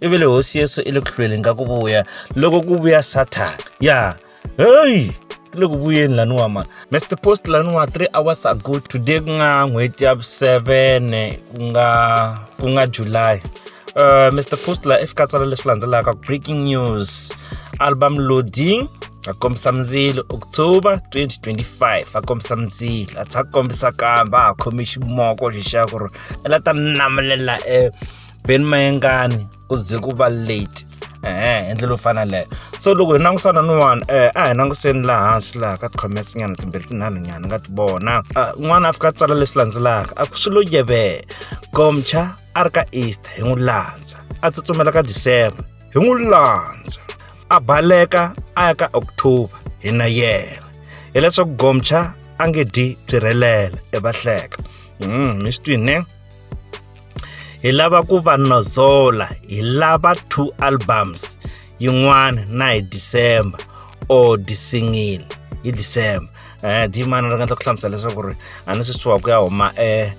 i vele hosi yesu i le ku hlweleni ka ku vuya loko ku vuya sathana ya heyi ti le ku vuyeni laniwa ma mr post laniwa three hours ago today ku nga n'hweti ya vu-sevene ku nga ku nga july uh, mr post la efikatsala leswi landzelaka breaking news album loading akombisa mzilo october 2025 akombisa mzilo a tsha kombisa kamba a khomi ximoko xi xa ku ri i la ta namulela e Ben Mayengani ku ze ku va late ehe hi ndlela yo fana leyo so loko hi langutisana ni wani um eh, a hi langutiseni laha hansi laha ka tikhomese nyana timbirhi tinharhu nyana ni nga ti vona ah, n'wana a fika a tsala leswi landzelaka a ku swi lo yevela gomcha a ri ka easter hi n'wi landza a tsutsumela ka december hi n'wi landza a baleka a ya ka october hi na yena hileswaku gomcha a nge dyi byirhelela evahleka mm, mi swi twini hi lava ku va nozola hi lava two albums yin'wana na hi december or disingile hi december um dimana ri nga ta ku hlamusela leswaku ri a ni swi suwa ku ya huma um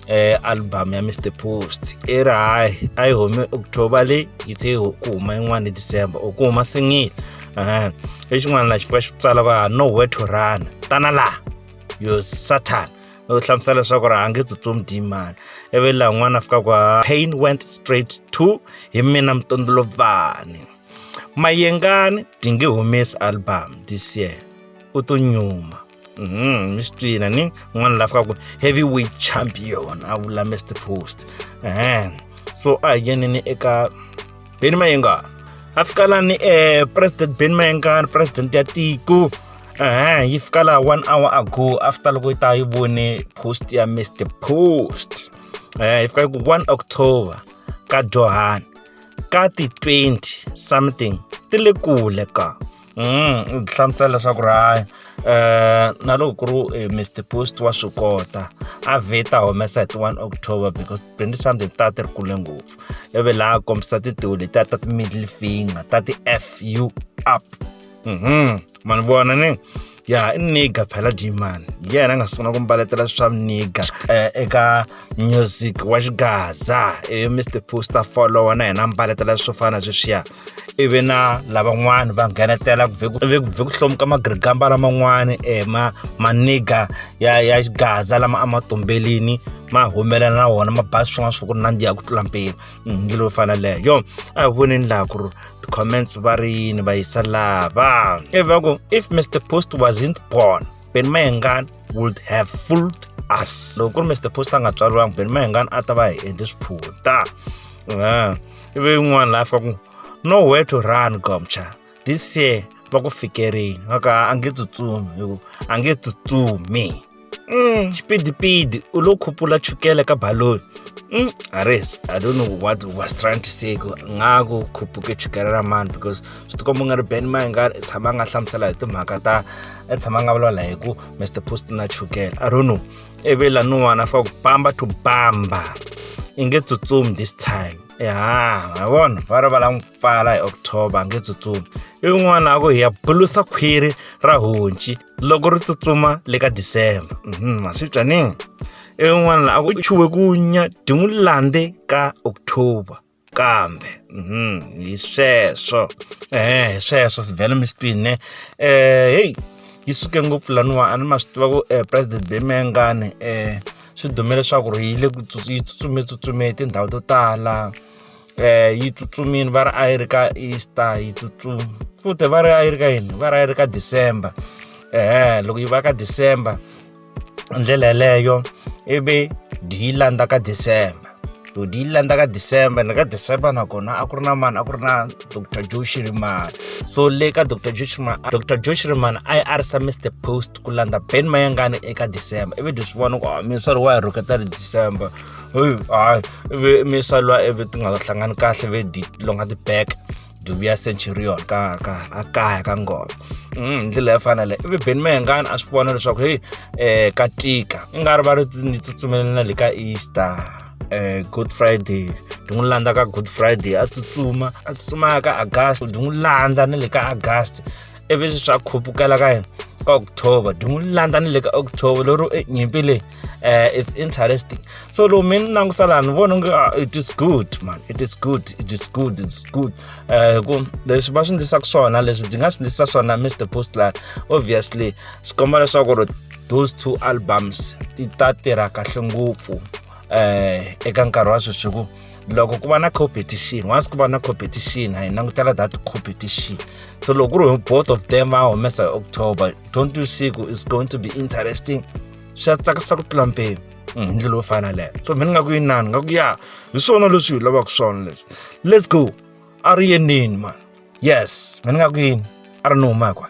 eh album ya Mr Post i ri hayi a yi humi October leyi yi se ku huma yin'wana December u ku huma singile eh lexin'wana la xi fika xi tsala va nowhere to run tana la yo satan u hlamusela leswaku ri a nge tsutsumi dimani ivi laha n'wana a fika kwa pain went straight to hi mina mutondolobani mayengani ti nge humesi album this year u to nyuma mhm, mi swi twina ni n'wana la fikaku heavy weight champion a vula mr post so a hi yenini eka Benny Mayenga a fika la ni eh, president Benny Mayenga president ya tiko ehe yi fika laha one hour ago after loko yi ta yi vone post ya mr post eh yi fika ku one october ka johani ka ti-twenty something ti le kule ka u byi hlamusela leswaku ri hayi um na loko ku ri eh, mr post wa swi kota a vheta humesa hi ti one october because twenty something ta ti ri kule ngopfu ivi laha kombisa tintiho letiya ta ti-middle finger ta ti-f u up mhm ma ni vona ni ya i niga phela dman hi yena a nga sungula ku mbaletela swa niga um eh, eka music wa xigaza i eh, mr poster follower na yena a mbaletela swo fana na sweswiya ivi na lavan'wana va nghenetela ku vhe ku hlomuka magirigamba laman'wana um eh, ma maniga ya ya xigaza lama a ma tumbelini ma humelela na wona ma ba swin'wana swa ku ri nandziha ku tlula mpimo mm, ngi lowu fana leyo a hi voneni laha ku ri comments va ri yini va yisa lava ivi va ku if mr post wasn't born ben mayengan would have fooled us loko ku ri mr post a nga tswariwangi ben mayengan a ta va hi endle swiphuta ivi yin'wana laha fika ku no where to run gomcha this year va ku fikerini va ka a nge tsutsumi hi ku a nge tsutsumi mm. xipidipidi u lo khupula chukele ka baloni mm. ares i don't know what was trying to say ku nga ku khupuke chukele ra mani because swi tikomba u nga ri ben mai nga tshama a nga hlamusela hi timhaka ta a tshama a nga vulavula hi ku mr post na chukele i don't know ivi laniwana fa ku bamba to bamba i nge tsutsumi this time ya ha vona va ri va la n'wi pfala hi october a nge tsutsumi i un'wana a ku hi ya bulusa khwiri ra honci loko ri tsutsuma le ka disemba mhm, ma swi twa ni en'wana la a ku chuwe ku nya ti n'wi landze ka october kambe mhm, hi sweswo eh hi sweswo sivhele mi swi twini eh heyi yi suke ngopfu laniwa a ni ma swi tiva ku eh, president bemengane um eh, swi dume leswaku ri yi le yi tsutsume tsutsume tindhawu to tala yi tsutsumile va ri a yi ri ka Easter yi tsutsuma futhi va ri a yi ri ka yini va ri a yi ri ka December ehe loko yi va ka December hi ndlela yeleyo ivi dyi yi landza ka December to di yi landza ka december ni ka december nakona a ku ri na mani a ku ri na dr joe shirimana so le ka dr joe shirimana dr joe shirimana a yi a ri sa mr post ku landza ben mayangani eka december ivi leswi vona ku ah, misori wa hi rhuketa ri december heyi hayi ve misa lwa eve ti nga hlangani kahle ve di longa ti back dubi ya centurion ka ka a kaya ka ngoma mm, hi ndlela yo fana leyi ivi beni mehengani a swi vona leswaku heyi um ka tika i nga ri va ri ni tsutsumeleni na le ka easter um good friday ndi n'wi landza ka good friday a tsutsuma a tsutsumaka agast ndi n'wi landza na le ka agast ivi swa khupukela ka yena ka october dungu li landza ni le ka october lero e nyimpi leyi um it's interesting so loko mi ni langusa laha ni vona nge ah, it is good man it is good it is good it is good eh, hi ku leswi va swi ndlisaka swona leswi ndzi nga swi ndlisa swona mr postline obviously swi komba leswaku ri those two albums ti ta tirha kahle ngopfu um eka nkarhi wa sweswi ku loko ku va na competition once ku va na competition hi langutela that competition so loko ku ri both of them va humesa hi october don't you see ku is going to be interesting swa tsakisa ku tlula mpimo mm, hi ndlela yo fana leyo so mina ni nga ku yinani nga ku ya hi swona leswi hi lavaka swona leswi let's go a ri yenini mani yes mina ni nga ku yini a ri ni humaka